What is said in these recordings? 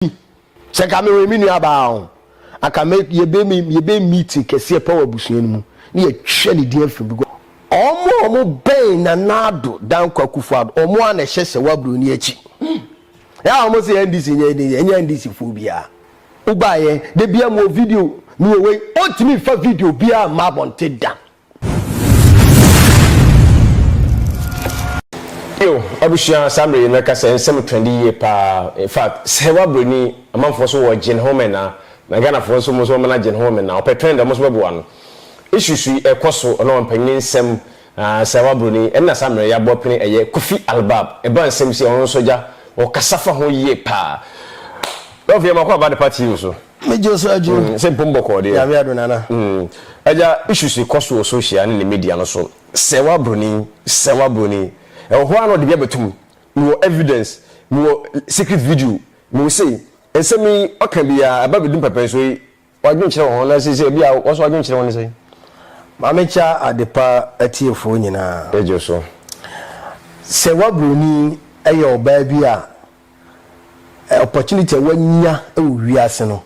Mimi, sɛ nka mewɔ me nua baa ho, anka me, yɛbɛ me, yɛbɛ meeting kɛseɛ pa wɔ abusua no mu, ne yɛtwɛ ne din afiri because ɔmo a ɔmo bɛn Nana Addo Dankwa Akufo Addo, ɔmo ara na ɛhyɛ Sewaa Broni akyi. Yɛ a ɔmo se NDC nyɛ NDC, ɛnyɛ NDC foɔ biara. Wobaeɛ, da biara mowɔ video, mewɔ wei, ɔntumi mfa video biara mma abɔnten da. Yo, abusua, saa mmerɛ yi no mɛka sɛ nsɛm trɛndi yie paa. In fact, sɛ woa broni, amanfoɔ nso wɔ gyen ho mena, na Ghanafoɔ nso wɔn nso wɔn mena gyen ho mena. Ɔpɛ trɛnd a wɔn nso bɛboa no. Issues yi ɛkɔ so, ɔne wɔn mpanin nsɛm, aah, sɛ woa broni, ɛna saa mmerɛ yi aboa pene ɛyɛ Kofi Albab. Ɛba nsɛm si a, ɔno nso gya, ɔkasa fa ho yie paa. Love yɛ makɔ aba de part yi nso. Me Joe so adwo. Mm, sɛ mpom bɔkɔɔ deɛ. Nyame ado nana. Mm, agya issues yi kɔ so wɔ social ne ne media no so. Sɛ wa broni, sɛ wa broni. Ɛwɔ hɔ a na ɔde bi abɛtum. Mewɔ evidence, mewɔ secret video, mewɔ sei. Nsɛm yi ɔka biara ɛba bɛdum pɛpɛ nso yi. Wadwenkyerɛ wɔ ho na sɛ sɛ ebi a wɔso wadwenkyerɛ wɔ ne sɛ. Maame kya adepa atiefoɔ nyinaa. Ɛgye so. Sɛ wa broni ɛyɛ ɔbaa bi a Opportunity a w'anya wɔ wiase no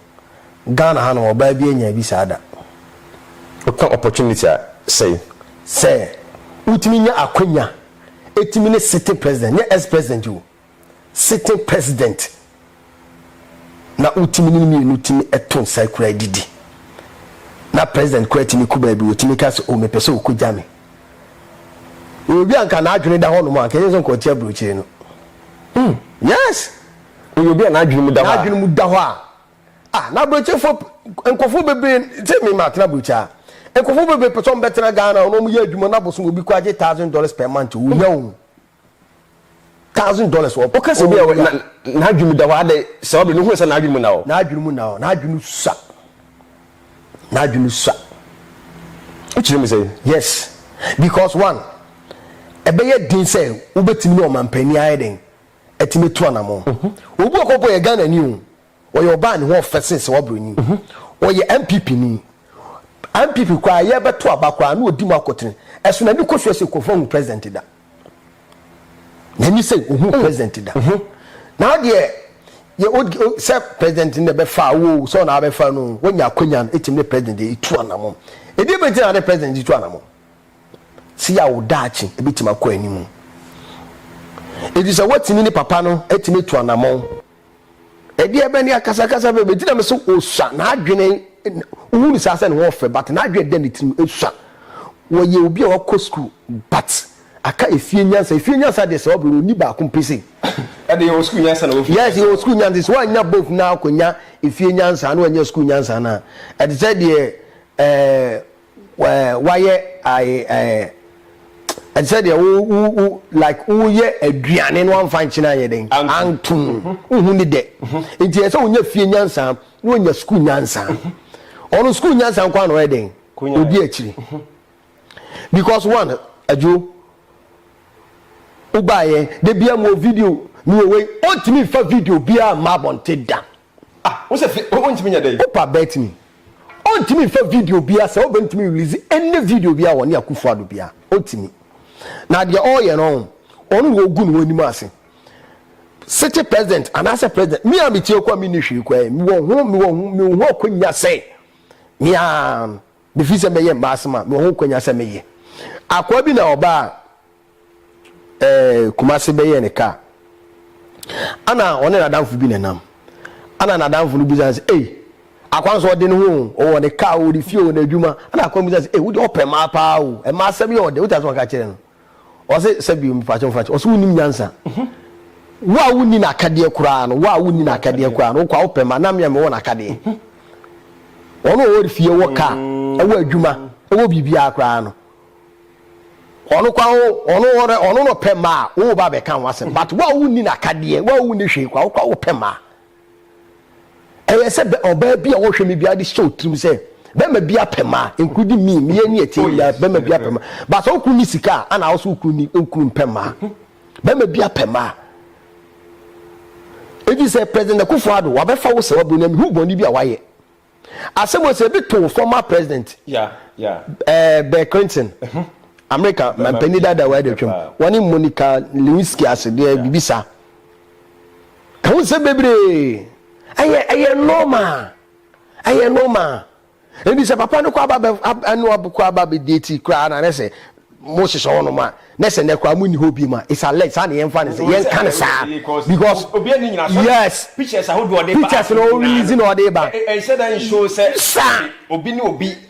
Ghana ha nom ɔbaa biaa nyaa bi saa da. Woka opportunity a sɛi. Sɛ wotumi nya akwanya tumi ne sitting president nyɛ ex president o sitting president na wotumi ne no mmienu tumi to nsa kura didi na president koraa tumi kɔ baabi wɔtumi ka sɛ o mepɛ sɛ ɔkɔ gya me. Yɛwɔ obi a anka n'adwene da hɔnom a anka ɛnyɛ sɛ anka ɔte aburokyire no. Hmm, yes! Yɛwɔ obi a n'adwene mu da hɔ a. N'adwene mu da hɔ a. Ah, na aburokyefoɔ p- nkurɔfoɔ bebree sɛ me ma atena aburokyi a. Nkurɔfoɔ bebree pɛ sɛ wɔbɛtena Ghana na wɔyɛ adwuma na abosom obi kɔ agye thousand dollars per month. Ohia o. thousand dollars wɔ. Woka sɛ bi a n'adwene mu da hɔ adɛ sɛ ɔbɛ no hu sɛ n'adwene mu na hɔ. N'adwene mu na hɔ n'adwene sua n'adwene sua. Wokyerɛ mu sɛ. Yes because one ɛbɛyɛ den sɛ wobɛtumi ne ɔmanpanin ayɛ den atumi atu anamɔ. Obi wɔ kɔ mpo yɛ Ghana ni o Ɔyɛ ɔbaa a ne ho ɔfɛ sen sɛ waboro nyin. Ɔyɛ NPP ni. NPP koraa yɛ bɛ to aba koraa na ɔdi mu akotene. Ɛso n'ani kɔ soɛ sɛ Kurofoɔ nhu President da. N'ani sɛ ɔhu President da. Na adeɛ yɛ ɔd o sɛ President no na ɛbɛ fa wo o sɛ ɔna abɛ fa no o wanya akwanya no ɛtumi ne President ɛtu anamɔn. Ɛdeɛ bɛ nti na ne President de tu anamɔn? Sɛ yɛ a wo daakye ɛbɛtumi akɔ animu. Ɛfiri sɛ watumi ne papa no atumi atu anamɔn. Ɛdeɛ bɛ ne akasakasa bɛ bɛgyina me so ɔsua n'adwene wohu no saa sɛ ne ho ɔfɛ but n'adwene da ne tirim ɛsua wɔyɛ obi a wakɔ school but aka efie nyansa efie nyansa deɛ sɛ ɔbrɛ no ɔni baako mpe sei ɛde yɛwɔ school nyansa na wɔfie yes yɛwɔ school nyansa sɛ woannya both na akɔnya efie nyansa na wanya school nyansa no a ɛte sɛ deɛ ɛɛ wayɛ ae ɛɛ ɛte sɛ deɛ wo wo wo like woyɛ aduane no amfa nkyene ayɛ dɛn antom wohu ne dɛ nti ɛsɛ wonya fie nyansa na wonya sukuu nyansa ɔno sukuu nyansa nko a na ɔyɛ dɛn odi akyiri because one adwo wobaeɛ da bia mu wɔ video ne wɔwei ɔntumi fa video biaa mma abɔnte da Ah wo sɛ fi wo ntumi nyɛ dɛn. Opa bɛtumi. Ɔntumi nfa video biaa sɛ oba ntumi release any video biaa wɔ ne Akufo Addo biaa ɔntumi na deɛ ɔyɛ no ɔho ɔno na ɔgu ne ho anim ase sete president anaasɛ president me a metie kɔ a menni hwee kɔ ɛ mewɔ ho mewɔ ho mewɔ ho akwanya sɛ meaa mefiri sɛ mɛyɛ mmaasem a mewɔ ho akwanya sɛ meyɛ akoa bi na ɔbaa ɛɛ Kumase bɛyɛɛ ne kaa. Ana ɔne n'adamfo bi na nam. Ana n'adamfo no bisa no sɛ, ei, akwan so ɔde ne ho o, ɔwɔ ne kaa o, ne fie o, n'adwuma. Ana akwan bisa no sɛ, ei, wode ɔpɛ mmaa paa o, mmaa asɛm yɛ ɔdɛ, wotase wɔka kyerɛ no. Ɔse, sɛ bio, mepaakyɛ mfa kyɛ. Ɔse, wonim nyansa. Mhm. Wo a wonni n'akadeɛ koraa no, wo a wonni n'akadeɛ koraa no, wokɔ a wopɛ mmaa, na mmea mewɔ n'akadeɛ. Mhm. Ɔno ɔwɔ fie, wɔ kaa, ɛwɔ adwuma, ɛwɔ biribiara koraa no. Ɔno kwa o, ɔno ɔno ɔno na ɔpɛ mmaa a wo ba bɛka ho asɛm but wo a wonni n'akadeɛ wo a wonni hwee kwa wo kwa wopɛ mmaa. Ɛyɛ sɛ bɛ ɔbaa bi a wɔhwɛ me biara de hyɛ wo tirim sɛ bɛrima bi apɛ mmaa including me meyɛ ne ɛteɛ yi a bɛrima bi apɛ mmaa but sɛ wo kunu ni sika a ana wo so wo kunu ni wo kunu mpɛ mmaa bɛrima bi apɛ mmaa ebi sɛ president Akufo-Addo wabɛfa wo sɛ wabɔ ne mehu bɔne bi a wayɛ Asɛm wɔ sɛ ebi tow former president Bill Clinton, America mampanyin dada wɔ adatwam, wɔne Monica Lewinsky ase deɛ biribi saa. Ɛho nsɛm bebree. Ɛyɛ ɛyɛ normal. Ɛyɛ normal. Ebi sɛ papa no kɔ aba bɛ ɛno ɔbɛkɔ aba bɛ date koraa na ne sɛ mo hyehyɛ hɔ nom a na sɛ nɛ koraa mo nni hɔ biom a it's alleged saa na yɛn fa ne sɛ yɛn ka ne saa because yes pictures na o release na ɔde ba saa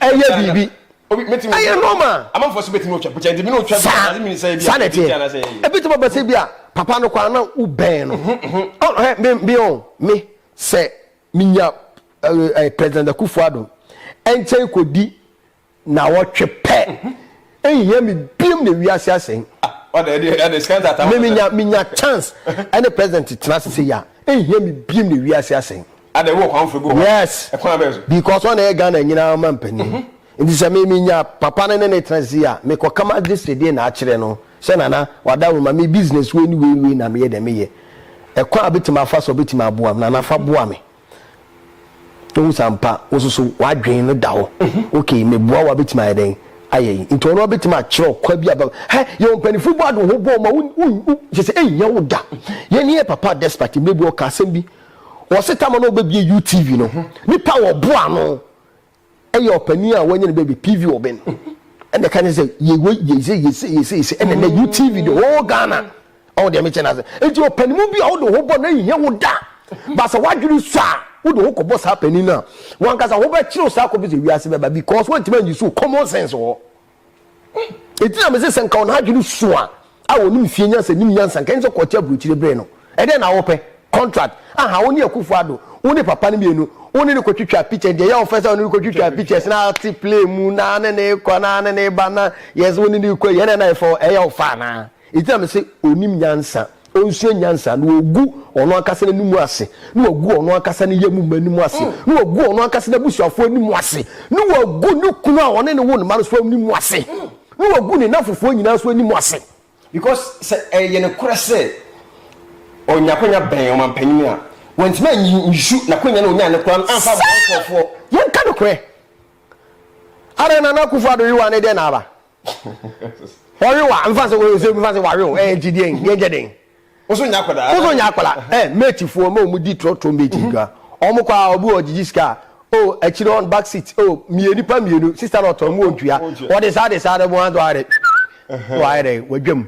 ɛyɛ biribi ɛyɛ normal saa saa na ɛteɛ ebi tuma bɛsɛ bi a papa no kwan na o bɛn no ɔhɛ mi mi o mi sɛ mi nya ɛɛ president Akufo-Addo ɛnkyɛn kɔ di naawɔtwe pɛ nhia me biom na wiase asɛe me menya menya chance ɛne president tena ase sɛ yia nhia me biom na wiase asɛe ada wɔ kwan fɛ bi wɔ yes ɛkwan bɛ so because ɔna yɛ Ghana nyinaa ma mpanyin nti sɛ me menya papa no ne ne tena ase yia me kɔ kama de sɛdeɛ na akyerɛ no sɛ nana wada wo ma me business wei ne wei wei na meyɛ dɛ meyɛ ɛkwan a bɛtumi afa so bɛtumi aboa me nana fa boa me Wohu sɛ ampa wo nso so w'adwene no da hɔ. Mhm. Ok, meboa wo abɛtumi ayɛ dɛn ayɛ yi. Nti ɔno abɛtumi akyerɛ ɔkwa bi aba. Hɛ, yɛ ɔmpanifo bɔ ado ho bɔ ma wo kyɛ sɛ ɛnyɛ wo da. Mhm. Yɛne yɛ papa despite mmerɛ bi ɔka asɛm bi. Ɔse tama na ɔbɛbie UTV no. Mhm. Nipa wɔ boa no. Ɛyɛ ɔpanin a wanya ne baabi PV wɔ bɛ no ɛna ɛka ne sɛ yɛ wei yɛ se yɛ se yɛ se yɛ se ɛna ɛnɛ UTV the whole Ghana ɔwɔ deɛ mekyɛ n'ase nti ɔpanimu bi a wode ho bɔ na ehia wo da baasa wadwene sɔ a wode ho kɔbɔ saa panin no a wankasa ho bɛkyerɛw saa kɔpɛ sɛ wiase bɛba because wantumi anyi so common sense wɔ hɔ. Enti na mese sɛ nka wɔn adwene su a, a wɔnim fie nyansa nim nyansa, nka ɛne sɛ kɔɔte aburokyire bere no. Ɛdɛn na wopɛ? Contract? Aha, wo ne Akufo Addo, wo ne papa no mmienu, wo ne no kɔtwitwaa pictures, deɛ ɛyɛ wo fɛ sɛ wo ne no kɔtwitwaa pictures na te plane mu na ne ne rekɔ na ne ne reba na yes wo ne no rekɔ yi, ɛdɛn na ɛfɛ hɔ? Ɛyɛ wo fɛ anaa? Enti na mese ɔnnim nyansa, ɔnsua nyansa, na ɔgu ɔno ankasa n'anim ase, na wagu ɔno ankasa ne yam mma anim ase, na wagu ɔno ankasa n'abusuafoɔ anim ase, na wagu ne kunu a ɔne no wo ne mma no nso anim ase, na wagu ne nnamfofoɔ nyinaa nso anim ase. Because sɛ ɛyɛ nokorɛ sɛ ɔnya akwanya bɛn ɔmampanin a, wantumi anyi nsu n'akwanya no a ɔnyaeɛ no koraa no amfa ammoa nkorɔfoɔ. Yɛnka nokorɛ, adɛn na Nana Akufo-Addo Yehowa ne dɛn na aba? Wɔwe wa nfa sɛ wɔyɛ sɛ nfa sɛ wɔwe o ɛyɛ nti deɛ yɛn gyɛ den. Woso nya akwadaa. Woso nya akwadaa ɛ eh, mate foɔ ma wɔn di trɔtrɔ mate mhm. dwa wɔn kɔ a obi wɔ gyigyi sika o oh, akyire wɔn back seat o oh, mmienu nipa mmienu sista na ɔtɔn mu wɔn tua wɔde saa de saa de wɔn adɔ ayɛ dɛ wɔayɛ dɛ wɔadwam.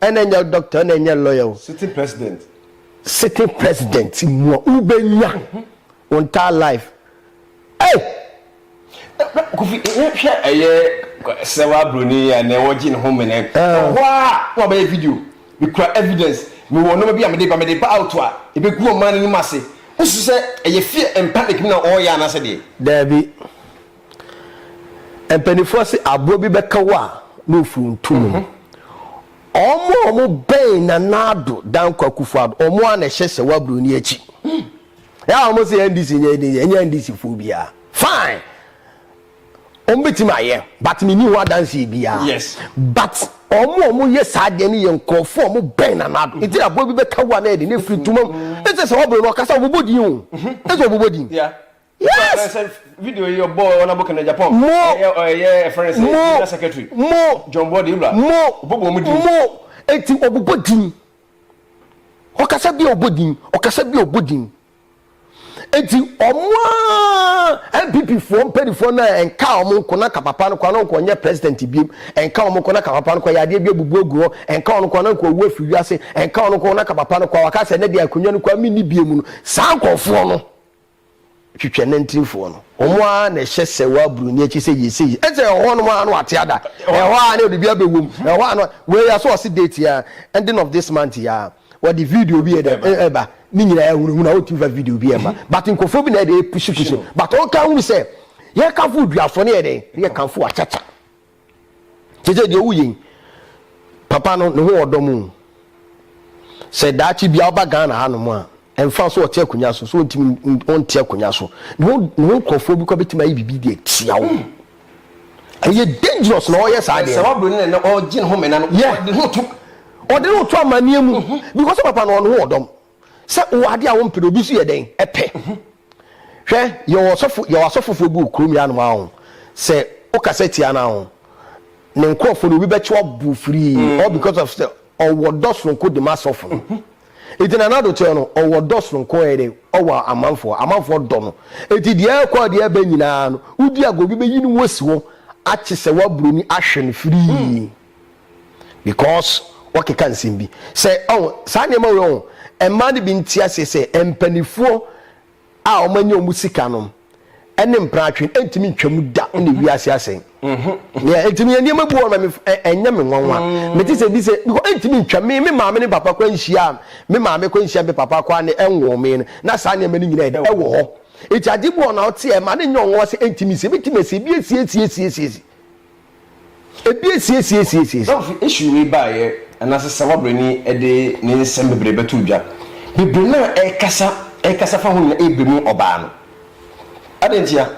Ɛna nyɛ doctor ɛna nyɛ lawyer o. Sitting president. Sitting president mua wo bɛ nya wo entire life ei. Kofi hwɛ ɛyɛ sɛwa broni yi a nɛ wɔ gye ne ho mene wɔ hɔ a na wabɛyɛ video me kura evidence me wɔ nɔma bi a mede ba mede ba out a ebe gu ɔman no anim ase wo su sɛ ɛyɛ fear and panic mu na ɔyɛ anasɛ deɛ. Daabi Mpaninfoɔ se aboa bi bɛka wo a ne ofuo nto mu no ɔmo a ɔmo bɛn Nana Addo Dankwa Akufo Addo ɔmo a na ɛhyɛ sɛ wabro ni akyi ɛa ɔmo se NDC nyɛ NDC ɛnyɛ NDC foɔ biara fine ɔmo bɛtumi ayɛ but menni ho adanseɛ biara yes. but ɔmo ɔmo yɛ saa deɛ no yɛ nkurɔfoɔ ɔmo bɛn na nado nti na aboa bi bɛka wo a na yɛde ne firi ntoma mu ɛsɛ sɛ wɔboro no ɔkasa ɔbobɔ din o ɛsɛ ɔbobɔ din Yes! Sɛ video yi ɔbɔ ɔna book na Japan. Mo. Ɛyɛ ɛyɛ ɛfrɛ ne sɛ General Secretary. Mo. John Body Ibra. Mo. Ɔbɔ bɔ mu din. Mo. Eti ɔbobɔ din. Ɔkasa bi a ɔbɔ din. Ɔkasa bi a ɔbɔ din. Eti ɔmo a NPP foɔ mpanimfoɔ no a ɛnka ɔmo nko na ka papa no kɔ na ɔnkɔ nyɛ president biem. Ɛnka ɔmo nko na ka papa no kɔ yɛ adeɛ bi abubu agu hɔ. Ɛnka ɔno nko na nka ɔwu afiri wiase. Ɛnka ɔno nko na ka papa no kɔ a waka sɛ ne deɛ akonnwa no kɔ a menni biem no. Saa nkorɔfoɔ no. twitwɛnantinifoɔ no, wɔn ara na ɛhyɛ sɛ wɔ aburoni akyi sɛ yie sɛ yie, ɛnte sɛ ɛhɔ nom ara na wɔate ada, ɛhɔ ara na biribi abɛwɔ mu, ɛhɔ ara na wei aso ɔse date yi ara, ending of this month yi ara, wɔde video bi ɛdɛ ɛba, ne nyinaa ahunahuna, wɔntumi fa video bi ɛmma, but nkurɔfoɔ bi na ɛdɛ ɛpushi pushi no, but wɔnka nhunu sɛ yɛkamfo oduafoɔ ne yɛdɛn, ne yɛkamfo akyakya. Seesei deɛ ɔwu yei papa no ne ho wɔ dɔ mu o. Sɛ daakye bia ɔba Ghana ha nom a, ɛmfa so ɔte akonya so, so ɔntimi ɔnte akonya so. Ne ho ne ho nkorɔfoɔ bi kɔ bɛtumi ayɛ biribi de atia wo. Ɛyɛ dangerous na ɔyɛ saa deɛ. Sɛ wabro no na ɔgye ne ho mena no, yeah. ɔde ne ho to. Ɔde ne ho to amaneɛ mu. Mm -hmm. Because papa no ɔne ho wɔ dɔm. Sɛ wowɔ adeɛ a wompɛ no, obi nso yɛ dɛn? Ɛpɛ. Mm -hmm. Hwɛ, yɛwɔ ɔsɔfo, yɛwɔ asɔfofoɔ bi wɔ kurom yi anom ha ho, sɛ wokasa tia no ho, ne nkorɔfoɔ no, obi bɛkye wo abo firii, all because of sɛ ɔwɔ dɔ sononko de ma asɔfo no. Enti Nana Addo teɛ no, ɔwɔ dɔ sononko ɛyɛ dɛ, ɔwɔ amanfoɔ, amanfoɔ dɔ no. Enti deɛ ɛɛkɔ a deɛ ɛɛba nyinaa no, wodi agorɔ, obi bɛyi ne ho asi hɔ, akye sɛ woaburoni ahwe no firii. because wakeka nsɛm bi sɛ ɔn saa nneɛma wei ɔn mmaa no bi nti aseɛ sɛ mpanifoɔ a wɔn anya wɔn sika nom ɛne mpratwe ɛntumi ntwam da ɛna ewi ase asɛn nea ɛntumi yɛ nneɛma bi wɔ ma ɛnyɛ me nwanwa mete sɛ bi sɛ because ɛntumi ntwam me me maame ne papa kɔ nhyia me maame kɔ nhyia me papa kɔ ne ɛnwɔ me no na saa nneɛma no nyinaa ɛda ɛwɔ hɔ eti ade bi wɔ na ɔte ɛma ne nyɛ ɔnwa sɛ ɛntumi si ɛbɛtumi ɛsi ebi esie esie esie esie Ebi asiesiesiesie. Sɛ wofi issue wei baeɛ anaasɛ sɛ wabrɛni de ne nsɛm bebree bɛto dwa, bebree no a ɛrekasa ɛrekasa fa ho nyinaa ɛrebɛ mu ɔbaa no. Adɛn ntia?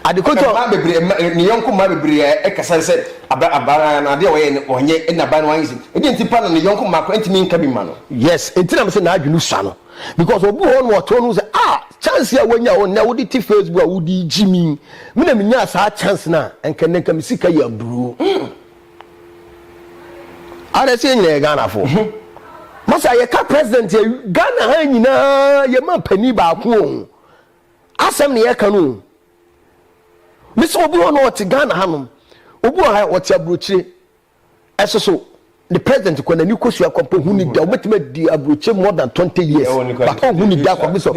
Adekotɔ. Mmaa bebree mma ne yɔnko mmaa bebree a ɛkasa sɛ aba abaa no adeɛ a ɔyɛ no ɔnyɛ ɛna abaa no anyɛ se. Ɛdeɛ nti pa na ne yɔnko mmaa koraa ntumi nka bi mma no. Yes, ɛnti na mese n'adwene sua no. Because obi wɔ hɔ nom ɔtɔn no sɛ ah chance a wanya o nnɛ wode te Facebook a wode gyimi me na menyaa saa chance no a nka nnɛ nka me sika yɛ aburoo mm ara sɛ yɛ nyina yɛ Ghana fo masa yɛka president yɛ Ghana ha nyinaa yɛ ma panin baako o asɛm na yɛka no o mesɛ obi hɔ na ɔte Ghana ha nom obi wɔ ha ɔte aburokyire Ɛso so, ne president kɔ n'ani kosua kwa mpo hu ne da. Wobɛtumi adi aburokyire more than 20 years but ɔnhu ne da kwa bi sɔ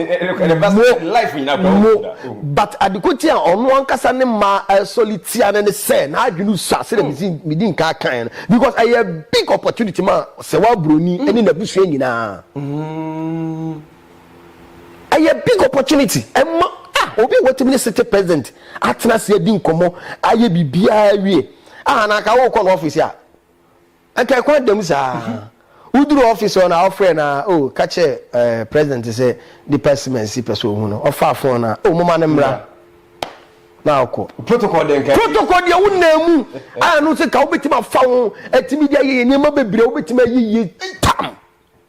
mo mo. But adeko nti a ɔno ankasa ne mma ɛsɔle tia no ne sɛ n'adwene sua sɛdeɛ mesi medi nkaa kaeɛ no because ɛyɛ big opportunity ma sɛ wɔ aburoni ne n'abusua nyinaa. Ɛyɛ big opportunity ɛma ah obi a watumi ne city president atena ase adi nkɔmmɔ ayɛ biribiara awie ah na anka wokɔ no office a anka ɛkwan da mu saa woduru office hɔ na ɔfrɛ na oh ka kyerɛ eh, president sɛ nipa simansi pɛ sɛ ohu no ɔfa phone na oh moma no mmra na ɔkɔ Protocol dɛn ka protocol deɛ wo nan mu a no sɛ ka wobɛtumi afa ho atumi de ayɛ yɛ nneɛma bebree a wobɛtumi ayɛ yie tam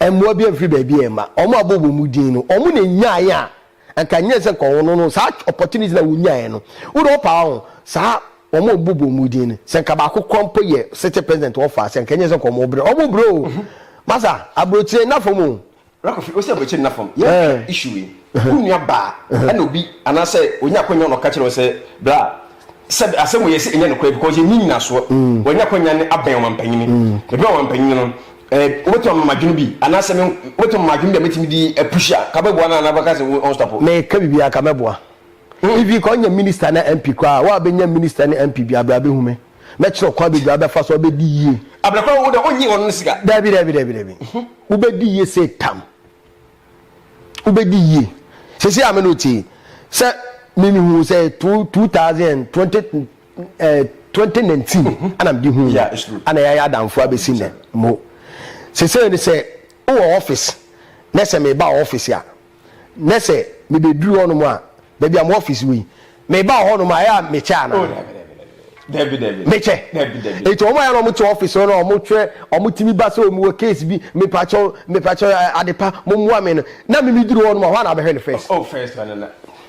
mmoa bi amfiri baabi amma. Wɔn a wɔbɔɔ wɔn mu din no, wɔn na nyaeɛ a anka nyɛ sɛ nka wɔn no no saa opportunity na wɔnyaeɛ no. Wode ɔpa hɔ ho saa wɔn a wɔbɔɔ wɔn mu din no, sɛ nka baako kora mpo yɛ city president wɔ fa sɛ nka nyɛ sɛ nka wɔn brɛ. Wɔn brɛ o. Masa, aburokyire nna fam o. Rakofi, Wo se aburokyire nna fam. Yɛnhwɛ issue wei. Wo nua baa ɛna obi anaasɛ ɔnya akwanya na ɔka kyerɛ wo sɛ bra Sɛ asɛm wei yɛ sɛ ɛnyɛ nokorɛ because yɛnni nyinasoɔ. Wɔanya akwanya no abɛn ɔmampanyini. Mebɛn ɔmampanyini no, eh, wobɛtumi ama me adwene bi anaasɛ me, wobɛtumi ama me adwene bi a mɛtumi de apush a, ka bɛboa no anaa bɛka sɛ wo ɔnstɔpo? Meka biribi a, ka mɛboa. Even ka ɔnyɛ minister ne MP koraa a, woabɛnya minister ne MP bi a, bra bɛhu me. Mɛkyerɛ wo kwan bebree a wobɛfa so a wobɛdi yie. Abena koraa wo deɛ wonnye wɔn no sika. Dabi, dabi, dabi, dabi. Wobɛdi yie sei tam. wobɛdi yie sɛsɛ a me no tee sɛ memehu sɛ 2019 eh, mhm. ana mede hu ana yɛayɛ adamfo abɛsi nɛ mo sɛsɛ ne sɛ wowɔ office na sɛ meba office a na sɛ mebɛduru hɔnom a baabi a mo office wei Mebaa hɔ nom a, ɛyɛ a mekyɛ anaa? Oh, dabi, dabi, dabi. Dabi, dabi. Mekyɛ. Dabi, dabi. Nti wɔn ayɛ na wɔn te office hɔ na wɔn kyerɛ wɔn ti mi ba sɛ wɔn wɔ case bi, mepakyɛw, mepakyɛw eh, adepa, mo mua me no. Na me mi duru hɔ nom a, hɔ a na abɛhwɛ no first. Oh, oh first na na na.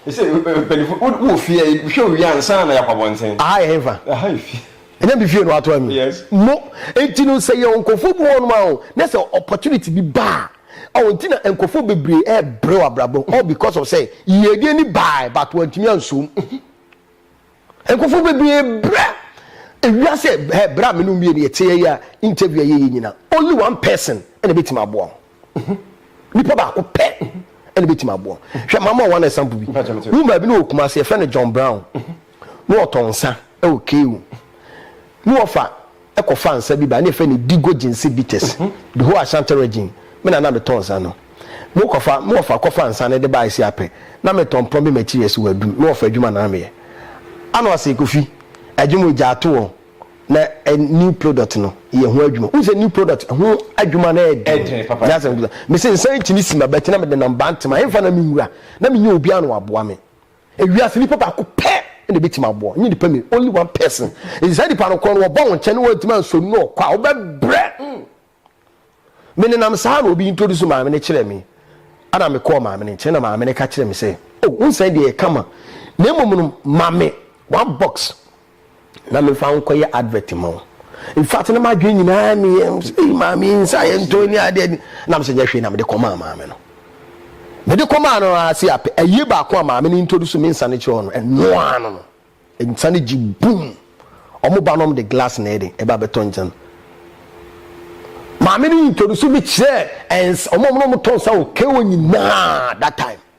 Ɛsɛ mpanyinfo wo wo fie yi, hwɛ owie ansa na yakɔ abɔnten. Aha yɛ henfa. Aha yɛ fie. Ɛnyɛ mi fie na wato ami. Yes. Mo, nti no sɛ yɛ nkɔfo bi hɔ nom a, na sɛ opportunity bi ba a, Ɔho nti na nkurɔfoɔ bebree rebrɛ wɔ abrabɔ all because of sɛ yiedie ni baae but wantumi anso mu. Nkurɔfoɔ bebree brɛ ewiase hɛ berɛ a me ne wo mmienu yɛteɛ yi a interview a yɛyɛ nyina only one person na ɛbɛtumi aboa wo. Nipa baako pɛ na ɛbɛtumi aboa wo. Hwɛ mama wɔn example bi. Woman bi no wɔ Kumasi yɛfrɛ no John Brown. Ne wɔtɔ nsa wɔ KU. Ne wɔfa kɔfa nsa bi ba ne yɛfrɛ no Digo Jinsi Bitters, the whole Ashanti region, me na na metɔ nsa no. Me kɔfa me wɔfa kɔfa nsa no de ba Asiapɛ, na me tɔ mprɔmbe materials wɔ Adum, me wɔfa adwuma na meyɛ. Ano ase Kofi, adwuma o gyaa to o, na ɛ new product no yɛ ho adwuma. Wohu sɛ new product ho adwuma no yɛ den, nyɛ asɛm ketewa. Mese nsa nkyini sima but na mede nam Bantama, ɛmfa na menwura, na mennya obiara na waboa me. Wiase nipa baako pɛ na ebetumi aboa, nye nipa mmienu, only one person. Nti saa nipa no korɔ no wɔba wo nkyɛn na wɔantumi ansɔ nu ɔkɔ a, wobɛbrɛ. Me nenam saa na obi introduce maame no kyerɛɛ me, ɛna me kɔɔ maame no nkyɛn na maame no ka kyerɛɛ me sɛ, oh, wo nsa yi deɛ ɛyɛ kama, na mmom no ma me one box na mefa nkɔyɛ advert ma wo infact na madwene nyinaa meyɛ ei maame nsa yɛ ntɔ ni adeɛ ni na mesɛ nyɛ hwee na mede kɔmaa maame no mede kɔmaa no ase apɛ ayie baako a maame no introduce me nsa no kyerɛ no ɛnoa no no nsa no gye bum ɔmo ba nom de glass na ɛde ɛba bɛtɔ nkyɛn no maame no introduce me kyerɛ ɛnsa ɔmo ɔmo na ɔmo tɔ nsa wɔ kewo nyinaa that time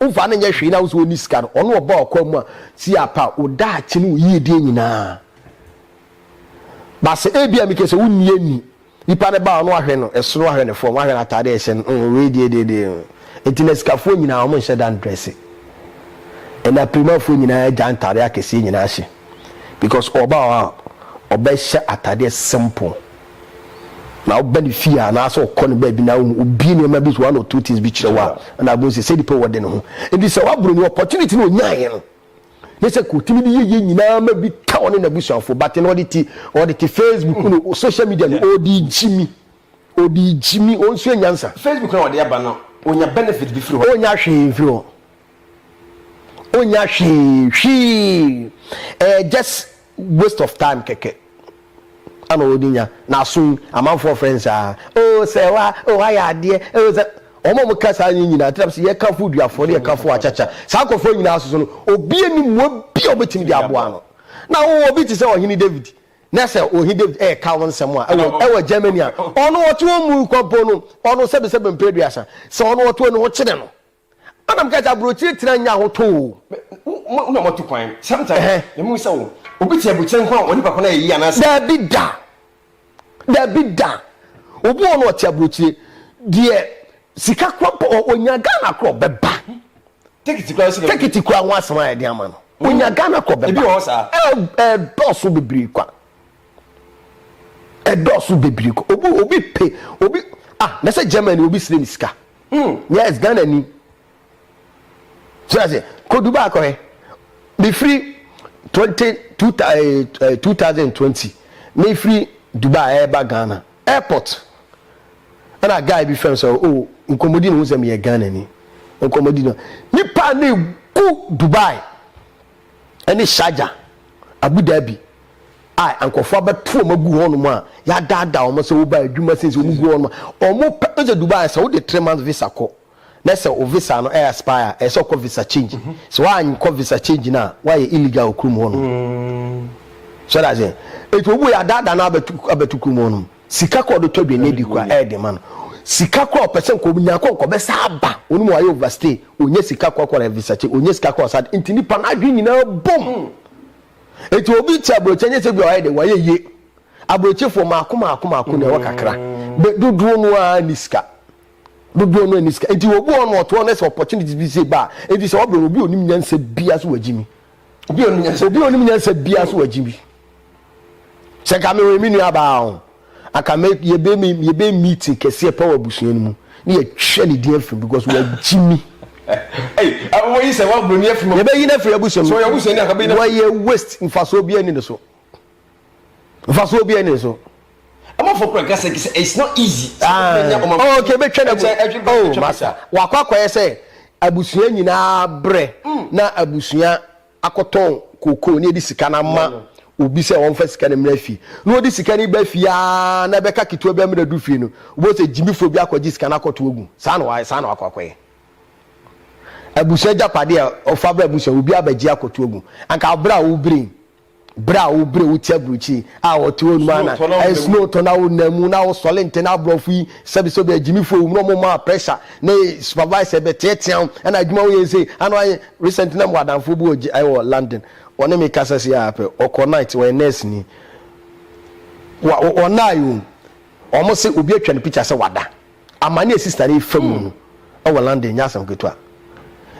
Womfa no nyɛ hwee na wo nso wonni sika no, ɔno ɔbaa ɔkwan mu a, si apa wo daakye ne wo yiedie nyinaa. But sɛ ebia meka sɛ wonni anni, nipa no baa ɔno ahwɛ no ɛsoro ahwɛ no fam ahwɛ no ataade a ɛhyɛ no mm wei deɛ deɛ deɛ mm. Nti na sikafoɔ nyinaa wɔn nhyɛ da ndrɛse. Ɛna pirimafoɔ nyinaa agya ntaade akɛseɛ nyinaa hyɛ because ɔbaa hɔ a ɔbɛhyɛ ataadeɛ simple. Na woba ne fie a anaasɛ ɔkɔ no baabi na wohu obie nneɛma bi so one or two things bi kyerɛ wo a ɛna abom sɛ sɛ nipa wɔ de ne ho nti sɛ waboro ne opportunity na ɔnyaeɛ no ne sɛ kɔtumi de yɛyɛ nyinaa ma bi ka ɔne n'abusuafoɔ bate na ɔde te ɔde te facebook no hmm. social media no ɔde gyimi ɔde gyimi ɔnsua nyansa facebook na ɔde aba no ɔnya benefit bi firi hɔ ɔnya hwee mfiri hɔ ɔnya hwee hwee ɛyɛ just waste of time kɛkɛ ana ɔde nya na aso yi amanfoɔ frɛ no saa oh sɛ wa oh ayɛ adeɛ oh sɛ wɔn a wɔka saa nyɛ nyinaa tena sɛ yɛka fo duafoɔ ne yɛka fo akyakya saa nkɔfoɔ nyinaa soso no obi anim mu obi a ɔbɛtumi de aboa no na wo obi te sɛ ɔhene David na sɛ ɔhene David ɛka wɔn nsɛm a ɛwɔ ɛwɔ Germany a ɔno ɔte wɔn mu kɔmpo no ɔno sɛbesɛbe mpere duasa sɛ ɔno ɔte wɔn ho kyerɛ no Ana mekae sɛ aburokyire tena nyɛ ahotɔ o. Mo na moatu kwan. Sometimes me mu sɛ wo obi te aburukyire nko a ɔnipa ko no ayɛ yie anaa sɛ. Daabi da. Daabi da. Obi wɔ hɔ no ɔte aburokyire deɛ sika kora mpo ɔnya Ghana kora ɔbɛba. Tekiti kora sika. Tekiti kora ho asɛm a yɛde ama no ɔnya Ghana kora ɔbɛba. Ebi wɔ hɔ saa. Ɛdɔɔso bebree kwa. Ɛdɔɔso bebree kwa. Obi obi pe obi ah mɛsɛ Germany obi srɛ me sika. Hmm, yes ghana ni so ase kodu baako ɛ mefiri twenty two eh, eh, two thousand twenty mefiri dubai ɛɛba eh, ghana airport ɛna guy bi fɛm sɛ o oh, nkɔmmɔdi ne ho sɛ meyɛ ghana ni nkɔmmɔdi no nipa ne gu dubai ne Sharjah, Abu Dhabi, a nkurɔfoɔ abɛto wɔn agu hɔnom a yɛadaadaa wɔn sɛ woba adwuma sei sɛ wɔn gu hɔnom a wɔn pɛ ɛsɛ Dubai sɛ wode three months visa kɔ na sɛ wo visa no ɛyɛ aspire ɛsɛ ɔkɔ visa change mhm. sɛ wɔankɔ visa change no a wɔayɛ illegal wɔ kurom hɔnom mm. so that's it etu obu yɛ adaadaa no abɛto abɛto kurom hɔnom. Sika kɔ do tɔ dwennye di kɔ a ɛyɛ den ma no. Sika kɔ a ɔpɛ sɛ nka onya kɔ a nka ɔbɛsan aba. Ɔno mu wayɛ overstay, onnya sika kɔ akɔyɛ research, onnya sika kɔ ɔsa de, ntsi nyimpa n'adwen nyina bom. Ntsi obi tse aborɔkyir a nnyɛ sɛ bi a ɔayɛ dɛ ɔayɛ yie. Aborɔkyirfo maako maako maako na ɛwɔ kakra, but dodoɔ no ara nni sika. Dodoɔ no ara nni sika. Ntsi obi wɔ hɔ no ma ɔtse hɔ no sɛ opportunities bi sei ba a, ntsi sɛ wɔbrɛ no obi a onnim nyansa biara so wɔagye me. obi onim nyansa obi onim nyansa bia so wagye bi sɛ ka me wɔ me nua baa ho aka me yɛbɛ me yɛbɛ meeting kɛseɛ pa wɔ abusua no mu ne yɛtwa ne din afiri because wagye mi yɛbɛyi no afiri abusua mu wɔyɛ waste mfasoɔ bia ni ne so mfasoɔ bi ɛne so. Amafo kura kasa kisa it's not easy. Oh, okay, be twɛn ɛmu. Oh, masa. Wakɔ akɔyɛ sɛ abusua nyinaa brɛ mm. na abusua akɔtɔn koko ne ɛde sika no ama obi sɛ wɔmfa sika no mmra fie na wɔde sika no ba fie aa na ɛbɛka ketewa bi amena du fie no wobɛhu sɛ gyimifoɔ bi akɔgye sika no akɔto agu saa na wɔayɛ saa na wakɔ akɔyɛ abusua agyapadeɛ a ɔfa berɛ abusua obi abɛgye akɔto agu anka berɛ a wobere Bere a wo bere wo ti aburukyiri a wɔte hɔ nom a na ɛyɛ snow tɔ na wo nan mu na wo sɔle ntɛ na aborɔfo yi sɛbi sɛ obi agyimifo wɔ mu na ɔmo maa pressure na supervisor bɛ teatea wo ɛna adwuma wo yɛ sei ana wayɛ recent na mo adanfo bi wɔ gye ɛwɔ London wɔne me kasa si a pɛ ɔkɔ night wɔyɛ nurse ni wɔ wɔ naayi wɔn se obi atwa ne picture sɛ wada Amane a sista no refa mu no wɔ London nyɛ asɛm ketewa.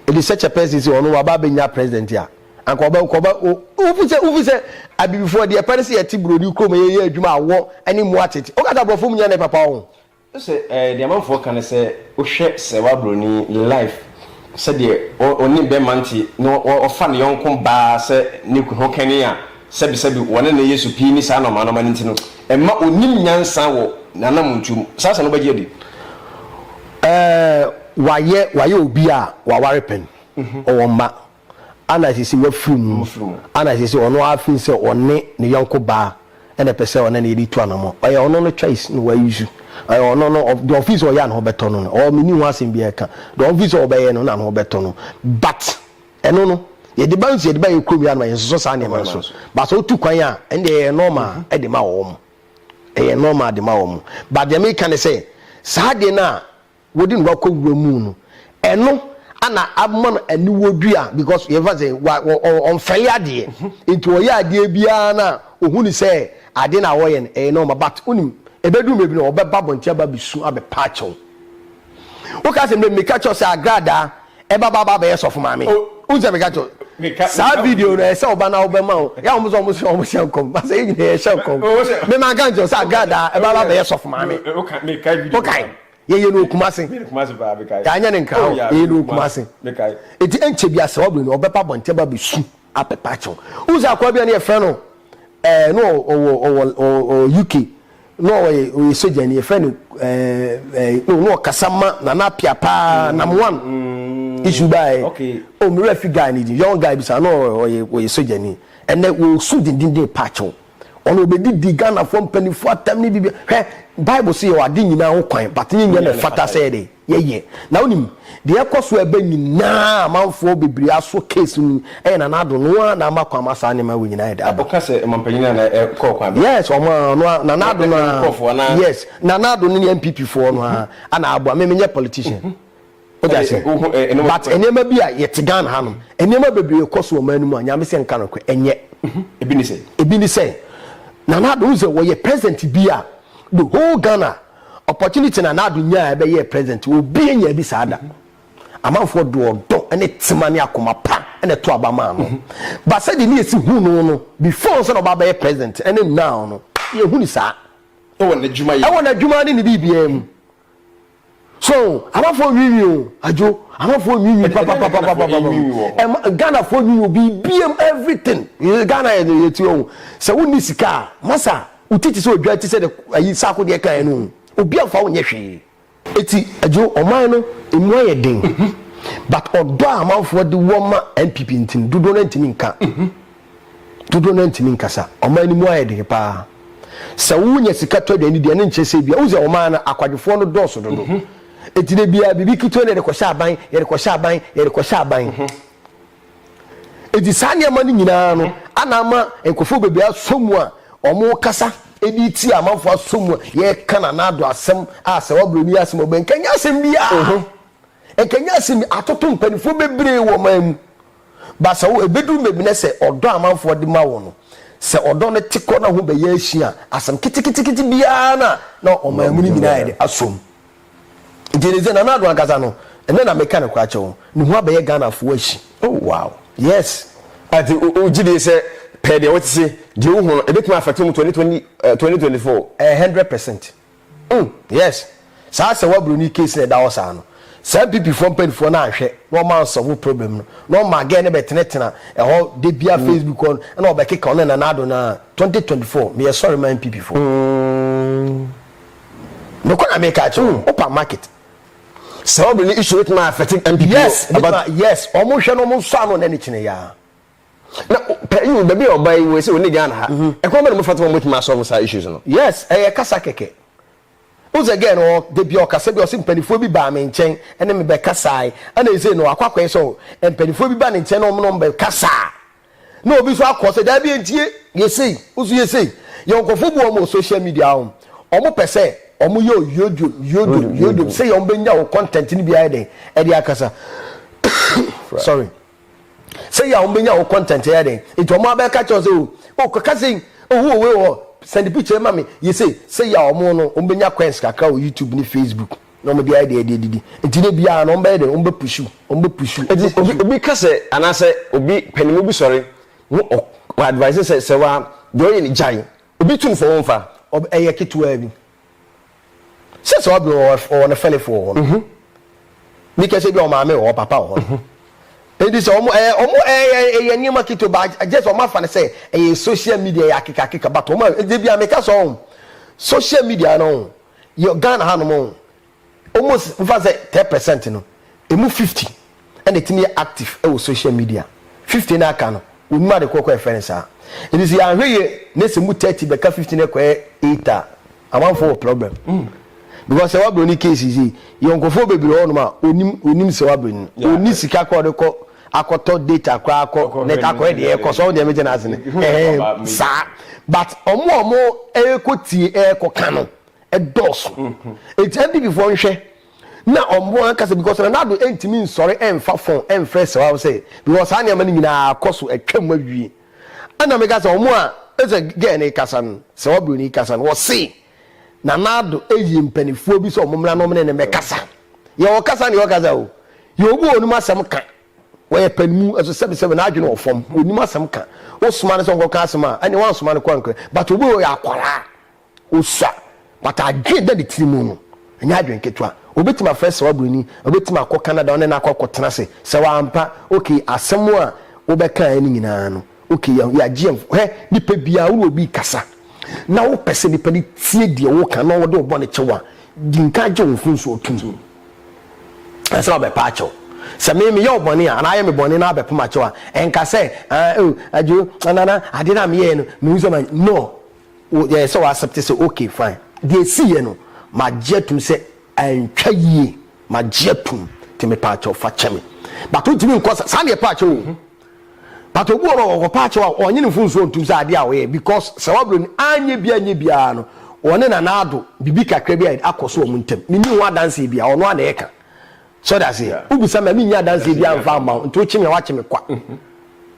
It is such a person sɛ ɔno waba abɛnya president a anka ɔbɛ nka ɔbɛ o wofi sɛ wofi sɛ abibifoɔ deɛ ɛpɛ no sɛ yɛte buroni kurom yɛyɛ adwuma awɔ ne mmoa tete woka sɛ aborɔfo mu nyɛ ne papa ɔho. Sɛ ɛɛ deɛ amanfoɔ ka no sɛ wohwɛ sɛ wa buroni life sɛdeɛ ɔne bɛma nte na ɔfa ne yɔnko baa sɛ ne kunu ho kɛne a Sɛbesɛbe wɔn a nnɛ Yesu pii nni saa anɔmanoma no nti no, ɛmma onnim nyansa wɔ n'anammɔntuo mu. Saa asɛm no bɛgye adi. Ɛɛ, wayɛ, wayɛ obi a waware pɛn, ɔwɔ mma, ana ɛsɛ sɛ wafiri mu, ana ɛsɛ sɛ ɔno ara firi sɛ ɔne ne yɔnko baa na ɛpɛ sɛ ɔne no yɛ de tu anammɔn? Ɛyɛ ɔno no choice na wayusu. Ɛyɛ ɔno no, ɔ, deɛ ɔfiri sɛ ɔyɛ a ne ho bɛtɔ no no. Ɔɔ, menni ho asɛm biara ka. Deɛ ɔfiri sɛ ɔbɛyɛ no na ne ho bɛtɔ no. But. Ɛno no, yɛde ba nso yɛde ba yɛn kurom yɛ anoma yɛnsosɔ saa nneɛma no so. Ba sɛ wotu kwan a, ɛnde ɛyɛ normal mhm. de ma wɔn. Ɛyɛ normal de ma wɔn. Ba deɛ meka ne sɛ, saa deɛ no a wɔde no wakɔ wura mu no, ɛno ana ama no aniwɔ dua because yɛfa sɛ ɔmfɛle adeɛ. Mhm. Nti wɔyɛ adeɛ biara no a ɔhu ne sɛ adeɛ no a wɔyɛ no ɛyɛ normal but wonim ɛbɛduru baabi no ɔbɛba abɔnten aba bɛsu abɛpa akyɛw. Wo ka sɛ mbrɛ meka kyerɛ wo sɛ agradaa ɛba ba ba bɛyɛ sɔfo maame. Wo nsɛ meka kyerɛ wo. Saa video no ɛsɛ ɔba na wo bɛ ma wo. Yɛ a wɔn sɛ wɔn sua wɔn hyɛ nkɔm. Ba sɛ yɛ nyina yɛ hyɛ nkɔm. Me ma nka nkyerɛ wo sɛ agradaa ɛba ba bɛyɛ sɔfo maame. Wo kae. Yɛ yɛ no wɔ Kumase. Yɛ anyɛ no Nkrahɔ. Yɛ yɛ no wɔ Kumase. Eti ɛnkyɛ bia sɛ wɔ bɛ no ɔbɛ ba abɔnten ba bɛ su. apepa kyew wohu sɛ akoa bi a ne yɛfrɛ no ɛɛ no ɔwɔ ɔwɔ ɔwɔ UK no ɔyɛ ɔyɛ sogya ni yɛfrɛ no ɛɛ ɛɛ no no ɔkasa ma nana apia paa mm. nam one mm. isu baa yɛ okay. o oh, mi wura fi guy ni di young guy bi sa no ɔyɛ ɔyɛ sogya ni ɛnɛ wɔsu dendenden pa kyew. Ɔno ɔbɛdi di Ghanafoɔ mpaninfoɔ atɛm ne biribi hwɛ Bible se yɛwɔ ade nyinaa ho kwan but ne nyɛ na ɛfata sɛ yɛde yɛyɛ na wonim deɛ ɛkɔ so ɛbɛ nyinaa amanfoɔ bebree aso case no ɛyɛ Nana Addo no ara na ama kwan ma saa nneɛma wei nyinaa ɛde aba. Ɔka sɛ ɔmampanin a na ɛkɔɔ kwan bɛn? Yes ɔmo a ɔno ara Nana Addo no ara yes Nana Addo no ne NPP foɔ no ara na aboa me menyɛ politician Wode ase? But nneɛma bi a yɛte Ghana ha nom, nneɛma bebree rekɔ so wɔ man no mu a, Nyame sɛ nka nokorɛ, ɛnyɛ. Mhm. Ebi ne sɛn? Ebi ne sɛn? Nana Addo, wohu sɛ wɔyɛ president bi a, the whole Ghana, opportunity Nana Addo nyaa ɛbɛyɛɛ president, obi anyaa bi saa da. Mhm. Amanfoɔ de ɔdɔ ne tema ne akoma pa na ɛto aba maa no. Mhm. Ba sɛdeɛ ne yɛsi hu no no, before sɛ na ɔba abɛyɛ president ne now no, yɛhu ne saa. Ɛwɔ n'adwuma yɛ. Ɛwɔ n'adwuma ne ne biribiara mu. so amafo nwiinwii o adwo amafo nwiinwii papapapapa ghana fo nwiinwii obi biem everything ghana yɛ no yɛ ti ɔho sɛ wonni sika a masa wotiti sɛ odwa ti sɛ de ayi saako deɛ kan no obi amfa wo nyɛ hwee eti adwo ɔman no emu ayɛ den mhm. but ɔdɔ a amanfoɔ de wɔ ma npp nti no dodoɔ no ntumi nka mhm. dodoɔ no ara ntumi nkasa. Ɔman no mu ayɛ den pa ara. Sɛ wonya sika tɔ aduane di a, na nkyerɛ sɛ ebia, wohu sɛ ɔman no, akwadwofoɔ no dɔɔso dodo. Enti da biara, biribi ketewa na yɛde kɔhyɛ aban, yɛde kɔhyɛ aban, yɛde kɔhyɛ aban. Enti saa nneɛma no nyinaa no na ama nkurɔfoɔ bebree asɔ mu a wɔkasa de retia amanfoɔ asɔ mu a yɛreka Nana Addo asɛm a sɛ woabrɛ no yi asɛm a wobɛyɛ nka ɛnyɛ asɛm biara. Nka ɛnyɛ asɛm biara. Atoto mpanimfoɔ bebree wɔ ɔman mu. Baasa o, ebeduru baabi na sɛ ɔdɔ a amanfoɔ de ma wo no, sɛ ɔdɔ no te kɔ na ho bɛyɛ asu a, asɛm keteketekete biara na na ɔman mu no nyinaa ayɛ dɛ asɔ mu. Nti ɛne sɛ Nana Addo ankasa no, ɛnnɛ na meka no koraa kyɛ wo, ne ho abɛyɛ Ghanafoɔ ahyi. Oh wow! Yes! Ah, nti wo, wogye die sɛ pɛɛ deɛ wote se, deɛ wohu no, ɛbɛtumi afɛte wo mu twenty twenty, eh, twenty twenty four? Eh, hundred percent. Uhmm yes saa sɛ w'abroni case na ɛda hɔ saa no saa NPP foɔ mpaninfoɔ no anhwɛ na wɔn ansɔvo problem no na wɔn maa girl no bɛtenatena ɛhɔ dabia Facebook hɔ no ɛna wɔbɛkeka ɔne Nana Addo no aa twenty twenty four meyɛ sɔre ma NPP foɔ nokorɛ na meka akyerɛ wɔn open market. Saa obroni issue bɛtumi a affect NPP o. Yes bɛtumi a yes wɔn hwɛ na wɔn nsɔ ano na ne kyene yaa. na pɛn baabi a ɔba yi wɔ sɛ wɔne ghana ha mhm. ɛkwan bɛ na mofata ma mobɛtumi asɔlve saa issues no yes ɛyɛ kasa kɛkɛ wosɛ gɛ no da bia ɔkasa bi ɔse mpanifoɔ bi baa me nkyɛn ɛne mebɛkasae ɛna ɛsei no wakɔ akɔɛ sɛ mpanifoɔ bi ba ne nkyɛn na ɔmono mbɛkasaa na obi so akɔ sɛ daa bi ɛntie yɛsei woso yɛsei yɛnkɔfo bu ɔmo social media hom ɔmo pɛ sɛ ɔmo yɛ yodwom yodwom yodwom sɛ yɛ ɔmo bɛnya wo content no biara dɛn ɛde akasa sorry sɛyi a wɔn bɛnya wo content ɛyɛ den nti wɔn abɛka kyerɛ sɛ o o kɔka sɛyi ohu wɔ wei wɔ hɔ send picture ma me yɛ sei sɛyi a wɔn no wɔn bɛnya coins kakra wɔ YouTube ne Facebook na wɔn de ayɛ deɛ ɛde adidi nti ne biara no wɔn bɛyɛ den wɔn bɛ pusu wɔn bɛ pusu Eti obi obi ka sɛ anaasɛ obi panimu bi sɔre na ɔ ɔ advise sɛ sɛ wa deɛ ɔyɛ no gyae obi tu no fɔ wɔn fa. Ɔb ɛyɛ ketewaa bi. Sɛ sɛ ɔbi wɔ hɔ ɔwɔ ne fɛlifo wɔ hɔ no. Bi kɛ sɛ bi a ɔmaame wɔ hɔ papa wɔ hɔ no. Enti sɛ ɔmo ɛɛ ɔmo ɛɛ ɛyɛ nneɛma ketewa ba gyɛs ɔmo afa no sɛ ɛyɛ sohyia midia ɛyɛ akeka akeka but ɔmo a ɛdɛ bi a meka sɛ ɔho sohyia midia no ɔho yɛ Ghana ha nom ɔho Almost mefa sɛ ten percent no ɛmu fifty na ɛtumi yɛ active wɔ social media, fifty no aka no wɔnnim ade korɔ kɔ a ɛfrɛ no saa. Nti sɛ yɛanhwɛ yie na sɛ ɛmu thirty bɛka fifty no kɔyɛ eight a, amanfoɔ wɔ problem. Because sɛ wabere no case yi sei, yɛwɔ nkorɔfoɔ bebree wɔ hɔnom a wɔnim wɔnim sɛ wabere no, wɔnni sika koraa a wɔde kɔ akɔtɔ data koraa akɔ net akɔhwɛ deɛ ɛrekɔ so, wo deɛ megye no ase no, ɛhɛn saa. But wɔn a wɔrekɔtie ɛrekɔka no Ɛdɔɔso. Enti NDP foɔ nhwɛ na wɔn ankasa because Nana Addo ntumi nsɔre ɛmfa phone ɛmfrɛ Sewao sɛ because saa nneɛma no nyinaa akɔ so atwa mu awie. Ɛna meka sɛ wɔn a ɛsɛ girl no rekasa no, Sewao Buroni rekasa no, ɔse Nana Addo ayi mpanifoɔ bi sɛ wɔn mmra na wɔne no mmɛkasa. Yɛ ɔkasa ne ɔkasa o, yɛ obi a ɔnim asɛm ka, ɔyɛ panimu nso sɛbesɛbe n'adwene wɔ fam, ɔnim asɛm ka. Wosoma no sɛ ɔnkɔka asɛm a, ɛneɛ woansoma no kɔ anka, but obi a ɔyɛ akwadaa. Osua but adwene da ne tiri mu no ɛnyɛ adwene ketewa. Obetumi afrɛ sawa buroni, obetumi akɔ Canada ɔne no akɔ akɔtena ase. Sawa ampa okay asɛm a wo bɛkaeɛ no nyinaa no okay yɛ yɛagye yɛn hwɛ nipa biara wo ne obi rekasa na wo pɛ sɛ nipa no tie deɛ wo reka na ɔde wo bɔne kyɛ wo a di nka gye wo mfomsoɔ tom ansa na ɔbɛpa akyɛ wo. Sɛ me meyɛ wo bɔne a anaa ayɛ me bɔne na abɛpem akyɛ wo a ɛnka sɛ ah oh Adwo oh Nana adeɛ no a meyɛɛ no mehu sɛ ma no. wo yɛ sɛ wa accept sɛ okay fine deɛ esi yɛ no ma gye atum sɛ antwa yie ma gye atum te me paakyɛw fa kyɛ me but o tumi nkɔ sa saa deɛ paakyɛw o but obi wɔ ɔkɔ paakyɛw a ɔnye ne mfunsuo ntum sɛ adeɛ a ɔyɛ because sɛ waburo ni anyɛ bi anyɛ biara no ɔne na naado bibi kakra bi a akɔ so wɔn ntam menni ho adanseɛ bi a ɔno a na ɛka So ɔte aseɛ? Yeah. Wobisa me a mennya adanseɛ Adanseɛ biara biara mfa mfa mma wo mma wo. nti wokye me a woakye me kwa.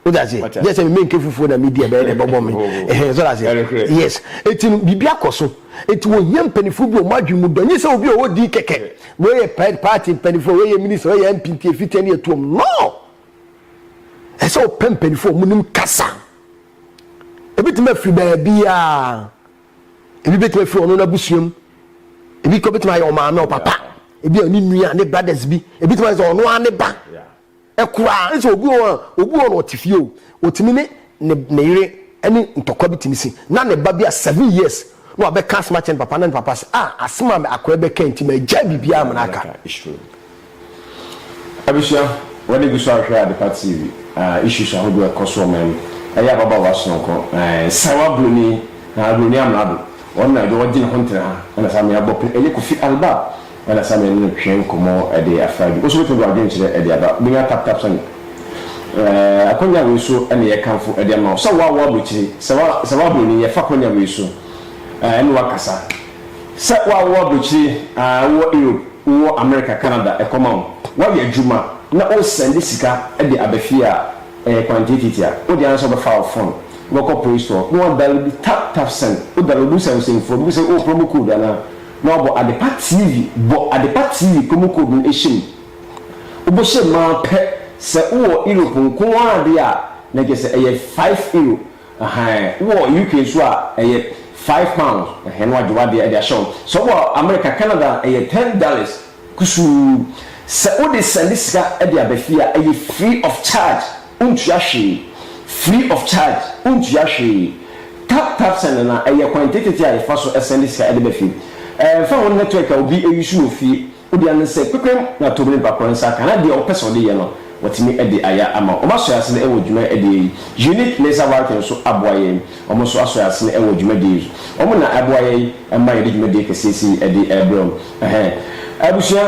Wote aseɛ? Wate Gye aseɛ. sɛ me menke fufuo na medi a ɛbɛyɛ dɛ ɛbɛbɔ me. Oh. Ɛhɛn, so ɔte aseɛ? Ɛnokorɛ. Yes. Enti no, biribi akɔ so. Enti wɔhia mpaninfoɔ bi a wɔn adwene mu dɔ. Ɛnyɛ sɛ obi a ɔwɔ din kɛkɛ. Yeah. Wei yɛ pa party mpaninfoɔ, wei yɛ minister, wei yɛ MP nti yɛfiri tɛn ne yɛtuom. No! Ɛsɛ sɛ wopɛ mpaninfoɔ a wɔnim kasa. Ɛbɛtumi afiri baabiara. Ebi betumi afi ɔno n'abusua mu. Ebi kɔ betumi ayɛ ɔmaame, ɔpapa. Ebi a ne nua, ne brothers bi. Ebi tumi ayɛ sɛ ɔno ara ne ba. Ɛkoraa nso obi wɔ hɔ a, obi wɔ no ɔte fie o. Otumi ne ne ne yere ne ntɔkwa bi tumi si. Na ne ba bi a seven years na wabɛka asɛm akyerɛ ne papa na ne papa se, ah asɛm a akoa yi bɛka yi nti magyae biribiara a na maka. Abusua, w'ani gu so a hwɛ Adepa TV a issues ahodoɔ a ɛkɔ so wɔ man mu ɛyɛ ababaawa sononko ɛɛ sawa broni haa broni amrado ɔno na ɛde ɔgye ne ho ntena ha ɛna saa mmea bɔ pɛ ɛyɛ Kofi Albab ɛna saa mmea ne no twe nkɔmɔ ɛde afra bi woso betumi de w'adwene kyerɛ ɛde aba wobɛnya tap tap sani ɛɛ akwanya wei so ɛna yɛ kamfo ɛde ama wo sɛ wo a wo aburukyire sawa sawa broni yɛ fa akwanya wei so ɛɛ ɛna wakasa. Sɛ woawo abrokyire a, wowɔ Europe, wowɔ Amerika, Canada, ɛkɔm awo, woayɛ adwuma na wosɛnde sika de aba fie a, ɛyɛ kwan tiatiati a, wode ara sɛ wobɛfa wo fon, wobɛkɔ play store na woadaloodu Tap Tap Send, wodaloodu sɛmsɛmfo a, wobisa wo, oh, promo code anaa? na woabɔ Adepa TV, bɔ Adepa TV promo code no hyɛ mu. Wobɛhyɛ mu ara pɛ, sɛ wowɔ Europe nko ara deɛ a, na kyerɛ sɛ ɛyɛ five euro, Ahaa wowɔ UK nso a ɛyɛ five pounds ɛhɛn na wagye wadeɛ de ahyɛ hɔ sɛ wowɔ America Canada a ɛyɛ ten dollars kusuu sɛ wode sɛnde sika de aba fie a ɛyɛ free of charge wontua hwee free of charge wontua hwee tap tap send na ɛyɛ kwan tetete a yɛfa so sɛnde sika de ba fie ɛmfa ho network a obi use wɔ fie Wo dea no sɛ kpekpem na tobi no ba kɔ nsa ka na deɛ ɔpɛ sɛ ɔde yɛ no watumi ade ayɛ ama wo. Ɔmo asɔre ase no ɛwɔ dwuma ɛdeɛ yi. Eunice ne nsa Walton nso aboa yɛn. Ɔmo nso asɔre ase no ɛwɔ dwuma die yi. Ɔmo na ɛboa yɛn ɛma yɛde dwuma die kɛseɛ sei ɛde ɛbrɛ wo. Ɛhɛɛ. Abusua,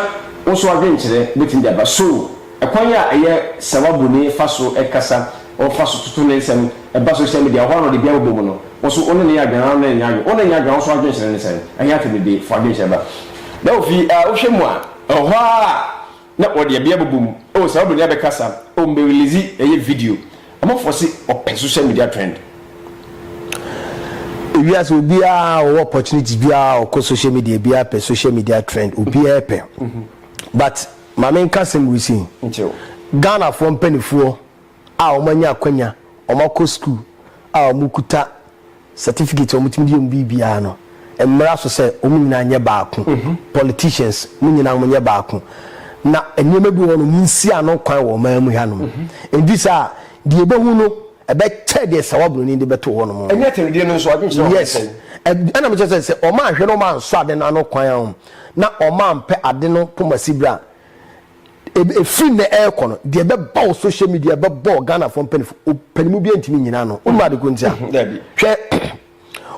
wo nso adwenkyerɛ bɛtumi de aba. So. Ɛkwan a ɛyɛ sawabuni fa so kasa, ɔfa so toto ne nsɛm, ɛba social media, ɔhɔ ara na ɔde biara bobɔ mu no, wo so wo ne no yɛ adwen ara wo ne no nyɛ adwen, wo ne no nyɛ adwen a wo so adwenkyerɛ ne sɛn? Ɛhe atemmude fa adwenkyerɛ ba? Na ofi a wohwɛ mu a, ɔhɔ ara na ɔde ɛbea bobɔ mu, oh sawabuni abɛkasa, oh me release ɛyɛ video, ɔmo afɔse ɔpɛ social media trend. Ewiase obiara a ɔwɔ opportunity biara ɔkɔ social media biara pɛ social media trend, obiara pɛ but. Ma me nka asɛm wisi. Ghanafoɔ mpanifoɔ a wɔn anya akwanya wɔn akɔ sukuu a wɔn kuta certificate a wɔn tumi de yɛ wɔn biribiara no mmra so sɛ wɔn nyinaa nyɛ baako politicians mo nyinaa mo nyɛ baako na nneɛma bi wɔn mo nsi ano kwan wɔ ɔman mu ha nom nti sɛ a deɛ ɛbɛhu no ɛbɛ kyɛ deɛ sawa broni de bɛto wɔn nom ɛnyɛ atɛredeɛ no nso adwenkyerɛ wɔn yes ɛna mo kyɛ sɛ sɛ wɔn anhwɛ na wɔn ansɔ ade no ano kwan a wɔn na wɔampɛ ade no kɔma Sibire a, ɛfiri nnɛ rekɔ no, deɛ ɛbɛba wo social media ɛbɛbɔ Ghanafoɔ mpanimfoɔ, ɔpanimu biara ntumi nnyina ano. Wonim ade ko nti a? Hwɛ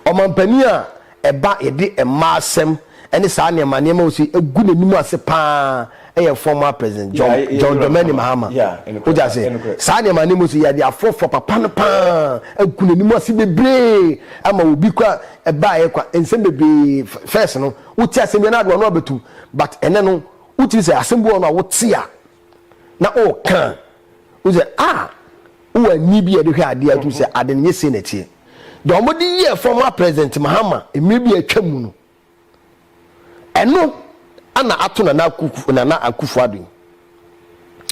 ɔmampanin a ɛba yɛde mmaa asɛm ne saa nneɛma nneɛma wɔ so agu n'anim ase pa ara yɛ former President John, John Dramani Mahama. Wogye ase? Saa nneɛma nneɛma wɔ so yɛde afrɔfrɔ papa no pa ara agu n'anim ase bebree ama obi kora ɛbaeɛ kwa nsɛm bebree first no wotie asɛm bi na ade wano abɛtum but ɛnɛ no wotumi sɛ asɛm bi wɔ no a wote a na ɔka a wo sɛ a ah, wowɔ ani bi a ɛde hwɛ adeɛ atum sɛ ade no nyɛ sei na ɛteɛ deɛ wɔde yɛɛ former president mahama mmerɛ bi atwa mu no Ɛno na ato Nana Akufu, Nana Akufu Ado yi.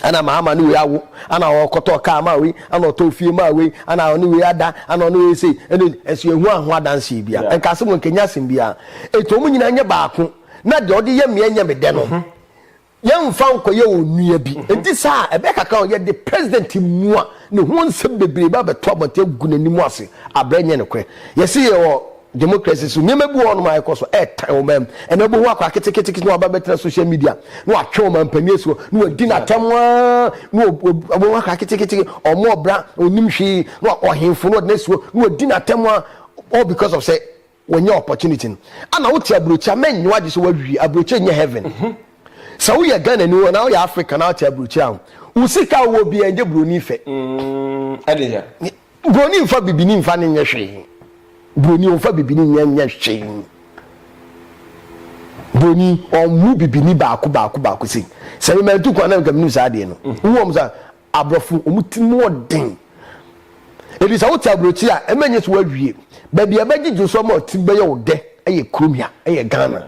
Ana maama ne wei awo, ana ɔkɔtɔ kaa maa wei, ana ɔtɔ fie maa wei, ana ɔne wei ada, ana ɔne wei sei. Ɛne ɛso ehu aho adanseɛ bia. Yeah. Nka asɛm nkɛnyɛ asɛm bia. Ɛti ɔmo nyinaa nyɛ baako. Na deɛ ɔde yɛ meɛ nyɛ me dɛ no. Mhm. Yɛmfa nkɔyɛ onua bi. Enti saa a, ɛbɛyɛ kakra a yɛde President Mua ne ho nsɛm bebree ba abɛto abɔnten agu n'anim ase abrɛ ɛnyɛ nokorɛ. Yɛse yɛwɔ democracy so, nneɛma bi wɔ hɔnom a ɛkɔ so ɛretan ɔman mu. Ɛnnɛ wobɛhu akwaa ketekete na waba abɛtena social media na watwe ɔmanpanin asuo na wadi no atɛm aa na wobɛhu akwaa ketekete ɔmmɔɔ bra, ɔnnim hwee na ɔhemfo na ɔde no asuo na wadi no atɛm aa all because of sɛ Wanya opportunity no ana wote abrokyi a mɛnye wagye sɛ wawie abrokyi nyɛ heaven sɛ woyɛ Ghanani anaa woyɛ African na wote abrokyi a wo sika a wowɔ biara ngye broni fɛ broni nfa bibini nfa ne nyɛ hwee broni ɔnfa bibini nyɛ nyɛ hwee broni ɔmmu bibini baako baako baako sei sɛ me mantu kwan na nka menim saa adeɛ no wowɔ mu sa Aborɔfo, wɔn ti mu yɛ den. Enti sɛ wote aburokyiri a, ɛma nyɛ sɛ woawie. Baabi a ɛbɛgyegye wo so ama wo ti bɛyɛ wo dɛ yɛ kurom ha, ɛyɛ Ghana.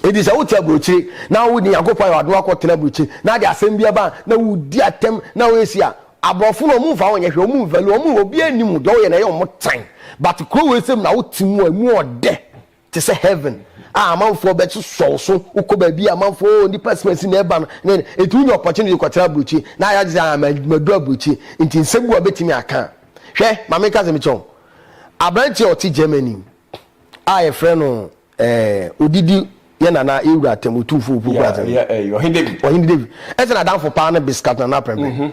Enti sɛ wote aburokyiri na wode Nyankopɔn ayɛ w'adom akɔtena aburokyiri na ade asɛm bi aba a, na wodi atɛm na woyɛ si a, aborɔfo no, wɔmfa wo nyɛ hwee, wɔn value, wɔn, obiara nnim wo, deɛ woyɛ no ɛyɛ wɔn tan. But kuro wei sɛ mu na wote mu a, ɛmu yɛ dɛ. Te sɛ heaven a amanfoɔ bɛ so sɔ wo so wokɔ baabi a amanfoɔ oh nipa expense na ɛba no ne ne nti wonya opportunity kɔ tra aburokyi na ayɛ agye sɛ ah ma ma duru aburokyi nti nsɛm bi wɔ bɛtumi aka a hwɛ ma me nka sɛ mekyɛ wo aberanteɛ ɔte Germany a yɛfrɛ no eh, odidi yɛ nana yɛ wura atam otumfoɔ opuo kura atam yeah, yeah, ɔhene David ɔhene David ɛsɛ na adanfo paa no biskat nana prɛmprɛm mm -hmm.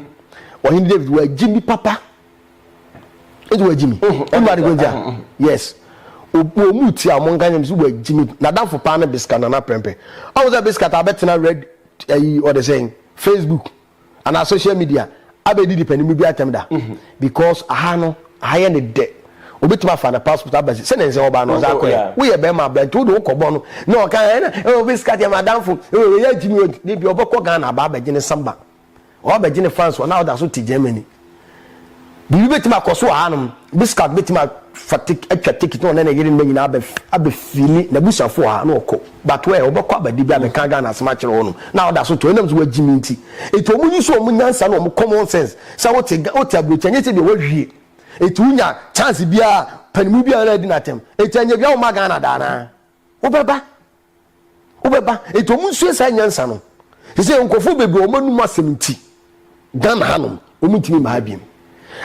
ɔhene David wagye nipa pa ɛdi wɔ gyimi ɛmu adi kɔn gya yes obu omu ti a wɔn nkanyam si wɔ gyimi n'adanfo paa ne biska nana pɛmpɛ ɔmo sɛ biska ta abɛtena red ɛyi ɔde sɛn facebook ana social media abɛdi di pɛnimu bi atɛm da mhm. because aha no aha yɛ ne dɛ obetumi afa na passport aba si sɛ ne nsɛm ɔbaa no ɔdze akɔ yɛ woyɛ bɛrima abirante wo de wokɔ bɔ no na ɔka ɛna ɛwɔ bi sika deɛ madanfo ɛwɔ yɛ gyimi ne bi ɔbɛkɔ ghana aba abɛgye ne samba Ɔabɛgye ne fans wɔ na ɔda so te Germany. Biribi betumi akɔ so wɔ hanom. Biscuit betumi afa tik atwa ticket na ɔne ne yere mma nyinaa abɛ abɛfili n'abusuafo wɔ ha na ɔkɔ. But where? Ɔbɛkɔ aba da bi abɛka Ghana asɛm akyerɛ hɔnom na ɔda so te hɔ ɛnam sɛ wɔagye me nti. Enti wɔn use wɔn nyansa ne wɔn common sense sɛ wote Ga wote aburokyire ɛnyɛ sɛdeɛ woawie. Enti wonya chance biara a panimu biara na adi no atɛm. Enti anyɛ biara womma Ghana da anaa? Wobɛba. Wobɛba enti wɔn nsua saa nyansa no. Sɛ nkurɔfoɔ bebree wɔn anum asɛm nti Ghana hanom wɔn ntumi mma ha biom.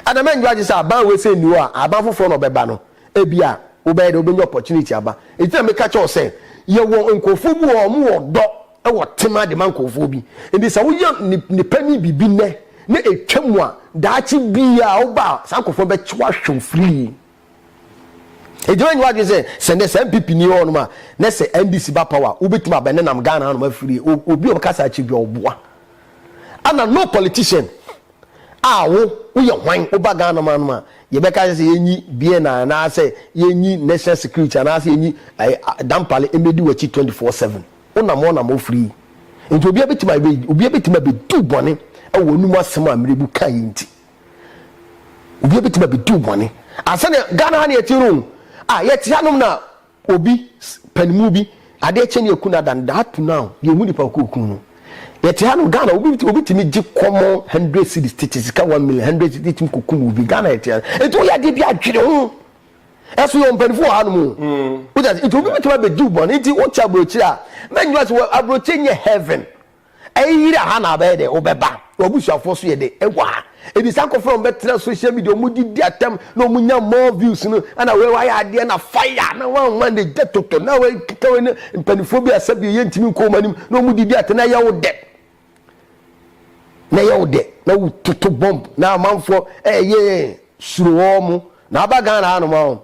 Ɛna mɛndwo agye sɛ aban wei sɛ nni hɔ a aban foforɔ na ɔbɛba no ebia wobɛyɛ dɛ wobɛnya opportunity aba. Enti na meka kyɛw sɛ yɛwɔ nkurɔfoɔ bi wɔ hɔ wɔn wɔ dɔ wɔ tema de ma nkurɔfoɔ bi. Enti sɛ woyɛ nipa ni biribi nnɛ na ɛtwa mu a daakye biara woba a saa nkurɔfoɔ bɛkye wo ahwɛ wo freely. Enti w'anyi w'adwene sɛ sɛ nɛ sɛ NPP ni hɔ nom a nɛ sɛ NDC ba power a wobɛtumi abɛ ne nam Ghana nom afiri obi a ɔbɛka saa akyiri bia ɔboa ana no politician a wo woyɛ hwan woba Ghana ma nom a yɛbɛka sɛ sɛ yɛnyi BNI anaasɛ yɛnyi national security anaasɛ yɛnyi dampale ɛmɛdi w'akyi 24/7 wonam ɔnam ɔfiri nti obia bɛtumi abɛ obia bɛtumi abɛdu bɔne ɛwɔ anum asɛm a mmerɛbu kaeɛ nti. obi abɛtumi abɛdi wo bɔne asɛne ghana ha ne yɛte no a yɛte hanom na obi panimu bi adeɛ kyɛ ne aku no ada no da ato no a yɛhu nipa ɔkɔɔku no yɛte hanom ghana obi obi tumi gye kɔmɔ hundred cities tete sika one million hundred cities tumi kɔkum obi ghana yɛte ha nti woyɛ adeɛ bi adwene ho ɛso yɛ ɔmpanifo wɔ hanom o mm. wogya nti obi bɛtumi abɛdi wo bɔne nti wokyɛ aburokyire a mɛnyɛ sɛ aburokyire nyɛ heaven Ɛyɛ yire a ha na abɛyɛ dɛ wobɛba. W'abusuafoɔ nso yɛ dɛ wɔ ha. Ebi saa nkorɔfoɔ na wɔbɛtena social media a wɔdidi atɛm na wɔnya more views no ɛna wei wayɛ adeɛ na fire na wanwa ne gya toto na wei keka wei na mpaninfoɔ bi a sɛbio yɛntumi nkɔ wɔn anim na wɔdidi atɛm na ɛyɛ wo dɛ na ɛyɛ wo dɛ na wototo bomb na amanfoɔ ɛyɛ suro wɔn. Na aba Ghana ha nom a ho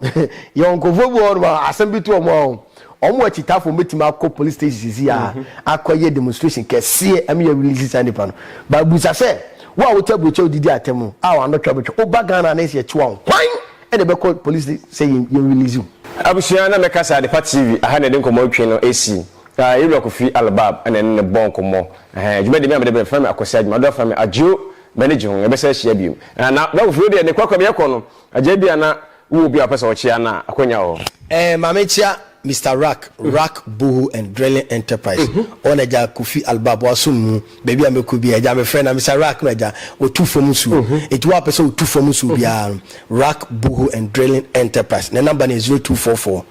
yɛwɔ nkorɔfoɔ bi wɔ hɔ nom a asɛm bi to wɔn a ho wɔn wɔ akyitafoɔ wɔn bɛtumi akɔ police station sisi a akɔ yɛ demonstration kɛseɛ ɛmɛ yɛ release saa nipa no but busa sɛ wo a wote aburokyɛ wo didi atɛm no a wano twa bɛtwa wo ba Ghana na yɛsɛ yɛkyewa wo hwan ɛna ɛbɛkɔ police sɛ yɛn yɛn release wo. Abusua na mɛka saa Adepa TV aha na yɛde nkɔmmɔ retwe no ɛsi Yɛwura Kofi Albab ɛna ɛne no bɔ nkɔmmɔ ɛhɛn dwumadie me a mede brɛ frɛ me Akwasi Adwuma Adora frɛ me Adjo bɛne gye ho, yɛbɛsan ahyia bio. Ɛ, na bɛ foforo deɛ, ne kwakwa meyɛ kɔ no, agya ebia na wowɔ obi a wopɛ sɛ ɔkyea no a, akwanya wɔ hɔ. Ɛ, ma menkyea Mister Rak, Rak Boho and Drilling Enterprise, ɔwɔ n'agya Kofi Albab, w'asom mu, baabi a mɛkɔ biara, agya mefrɛ no a, Mister Rak no agya, ɔtu fam nsuo. Enti wo a wopɛ sɛ wotu fam nsuo biara no, Rak Boho and Drilling Enterprise, ne number no yɛ zero two four four.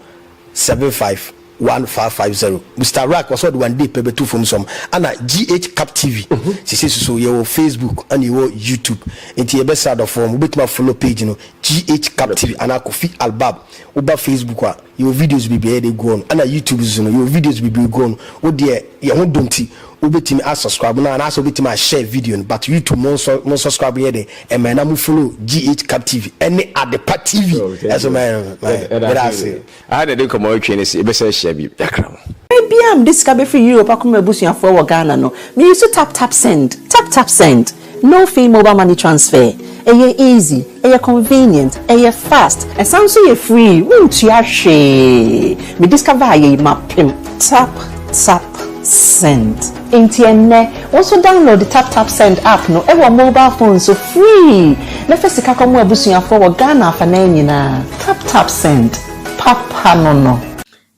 seven five one five five zero Mister Rack ɔsɛ ɔde one day pɛ bɛto fam sɔm ana GH Cup TV sesei soso yɛwɔ Facebook ana yɛwɔ YouTube nti yɛbɛsrɛ adɔfoɔ mo bɛtumi a follow page no GH Cup TV anaa Kofi Albab woba Facebook a yɛwɔ videos bebree a yɛde gu hɔ no ana YouTube soso no yɛwɔ videos bebree gu hɔ no wodeɛ yɛn ho dɔ nti Wobɛtumi asɔskraibo no anaasɛ wobɛtumi ahyɛɛ video no but YouTube mo nsɔ mo nsɔskraibo nyɛ den mmɛ na mo follow GH cup TV ɛne Adepa TV ɛso mɛ mɛ medase. Aha na yɛde nkɔmmɔ retwe ne se yɛbɛsan ahyia bio yɛakra mo. Berɛ biara a mede sika bɛfiri Europe akɔma m'abusuafoɔ wɔ Ghana no, me use taptapsend, taptapsend. No fee mobile money transfer, ɛyɛ easy, ɛyɛ convenient, ɛyɛ fast, ɛsan nso yɛ free, wontua hwee, me discover yei mapem tap tap send. Nti ɛnnɛ wo nso download tap tap send app no wɔ mobile phone so free na fa sika kɔmo abusuafoɔ wɔ Ghana afanaa nyinaa, tap tap send papa no no.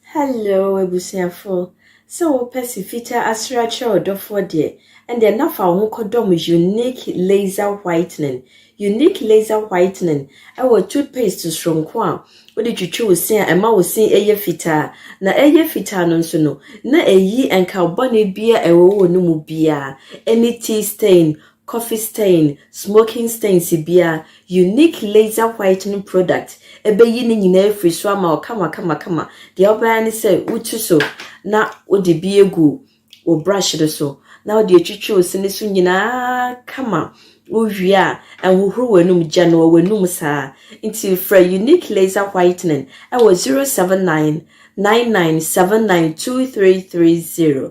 Hello abusuafo, sɛ wopɛ se fitaa asre akyerɛ wo dɔfoɔ deɛ, ɛndeɛ na fa wo ho kɔdɔm Unique Laser Whitening. Unique Laser Whitening wɔ toothpaste soronko a wode twitwi wo se a ɛma wo se yɛ fitaa. Na ɛyɛ fitaa no nso no, na ɛyi nkaw bɔne biara a ɛwɔ wo no mu biara, any teeth stain, coffee stain, smoking stains bia, unique laser whitening product ɛbɛyi ne nyinaa afiri so ama wo kama kama kama. Deɛ wobɛyɛ ne sɛ wotu so na wode bi agu wo brush no so na wode atwitwi wo se no so nyinaa kama wowie a ɛnhohoro w'anum gya no w'anum saa nti frɛ unique laser whitening ɛwɔ 079 99792330